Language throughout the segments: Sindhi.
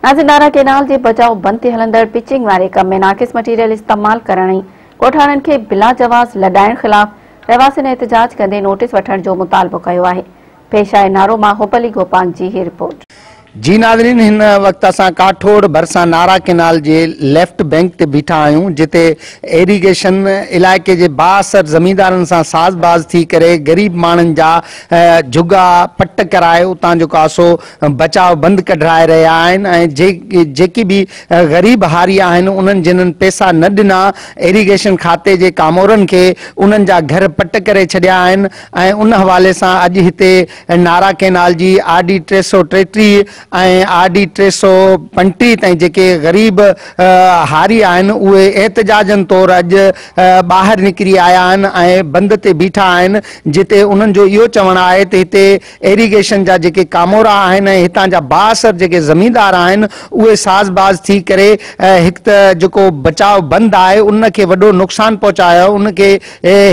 ناصر ڏاھرا ڪينال جي بچاء بند تي ھلندڙ پچنگ واري ڪم ۾ ناقص مٽيريل استعمال ڪرڻ ۽ ڳوٺاڻن کي بلاجواز لڏائڻ خلاف رھواسين احتجاج ڪندي نوٽيس وٺڻ جو مطالبو ڪيو آھي پيش آھي نارو مان حب علي گوپانگ جي ھي رپورٽ. جي ناظرين ھن وقت اسان ڪاٺوڙ ڀرسان نارا ڪينال جي ليفٽ بئنڪ تي بيٺا آھيون جتي ايريگيشن علائقي جي بااثر زميندارن سان ساز باز ٿي ڪري غريب ماڻھن جا جھڳا پٽ ڪرائي اتان جو ڪاسو بچاء بند ڪڍرائي رهيا آهن ۽ جيڪي به غريب هاري آهن انهن جنھن پيسا نه ڏنا ايريگيشن کاتي جي ڪامورن کي انهن جا گهر پٽ ڪري ڇڏيا آهن ۽ ان حوالي سان اڄ هتي نارا ڪينال جي آر ڊي ٽي سؤ ٽيٽيهه ۽ آر ڊي ٽي سؤ پنجٽيهه تائين جيڪي غريب هاري آهن اهي احتجاجن طور اڄ ٻاهر نڪري آيا آهن ۽ بند تي بيٺا آهن جتي انهن جو اهو چوڻ آهي ته هتي ايريگيشن جا جيڪي ڪامورا آهن ۽ هتان جا بااثر جيڪي زميندار آهن اهي ساز باز ٿي ڪري هڪ ته جيڪو بچاء بند آهي ان کي وڏو نقصان پهچايو آهي ان کي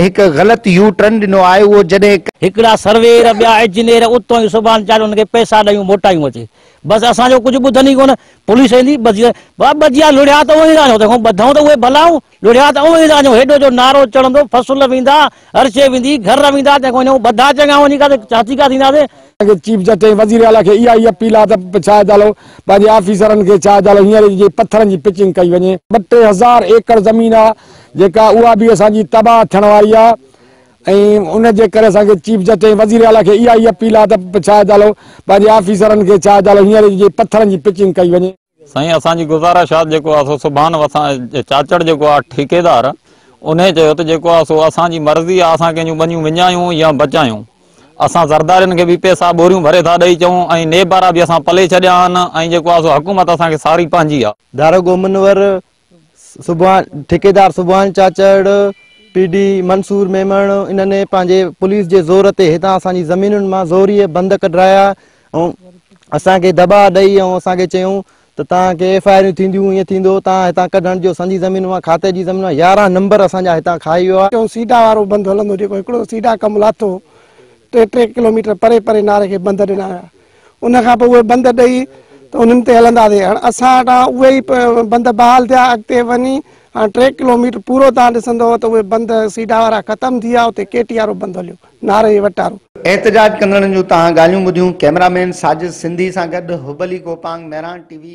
هڪ غلط يو ٽرن ڏنو آهي اهو جڏهن هڪڙا سرويئر ٻيا انجنيئر اتون ئي سبحان چاري انهن کي پئسا ڏيون موٽايون اچي بس اسان جو ڪجهه ٻڌن ئي ڪونه پوليس ايندي ٻڌي ٻه ٻڌيا لڙيا ته اوهين رهيو تنهن کان ٻڌئون ته اهي ڀلائون. ڏوريا ته اوهين سان جو هيڊو جو نعرو چڙهندو، فصل ويندا، هر شيء ويندي، گهر ويندا، تنهن کان وڃون ٻڌا چڱا وڃي ڪا ته ڇا ٿي ڪا ٿينداسين. چيف جسٽس ۽ وزير اعليٰ کي اها ئي اپيل آهي ته ڇا اجالو پنهنجي آفيسرن کي ڇا اجالو هينئر ئي جي پٿرن جي پچنگ ڪئي وڃي. ٻه ٽي هزار ايڪڙ زمين آهي جيڪا اها به اسان جي تباهه ٿيڻ واري آهي ۽ ان جي ڪري اسان کي چيف جسٽس ۽ وزير اعليٰ کي اها ئي اپيل آهي ته ڇا اجالو پنهنجي آفيسرن کي ڇا اجالو هينئر ئي جي پٿرن جي پچنگ ڪئي وڃي. سائين اسان جي گزارش آ جيڪو آ سو سبحان وسان چاچڙ جيڪو آ ٺيڪيدار انهي چيو ته جيڪو آ سو اسان جي مرضي آ اسان ڪنهن جون ٻنيون وڃايون يا بچايون اسان زردارين کي به پئسا ٻوريون ڀري ٿا ڏئي چئون ۽ نيب وارا به اسان پلي ڇڏيا آهن ۽ جيڪو آ سو حڪومت اسان کي ساري پنهنجي آ. دارڳومنور سبحان ٺيڪيدار سبحان چاچڙ، پي ڊي منصور ميمڻ انهن پنهنجي پوليس جي زور تي هتان اسان جي زمينن مان زوريء بند ڪڍرايا ۽ اسان کي دٻاء ڏئي ۽ اسان کي چيون ته توهان کي ايف آء آريون ٿينديون ائين ٿيندو توهان هتان ڪڍڻ جو سنجي زمين مان کاتي جي زمين مان يارهن نمبر اسان جا هتان کائي ويو آهي. چيون سيڊا وارو بند هلندو جيڪو هڪڙو سيڊا ڪم لاتو ٽي ٽي ڪلوميٽر پري پري ناري کي بند ڏنا ويا. ان کان پوء اهي بند ڏئي ته انهن تي هلنداسين هاڻ اسان وٽان اهي ئي بند بحال ٿيا اڳتي وڃي هاڻ ٽي ڪلوميٽر پورو تان ڏسندو ته اهي بند سيڊا وارا ختم ٿي ويا اتي ڪي ٽي وارو بند هليو نارنگي وٽارو. احتجاج ڪندڙن جون تهان ڳالهيون ٻڌيون ڪئميرا مين ساجد سنڌي سان گڏ حب علي گوپانگ مهراڻ ٽي وي.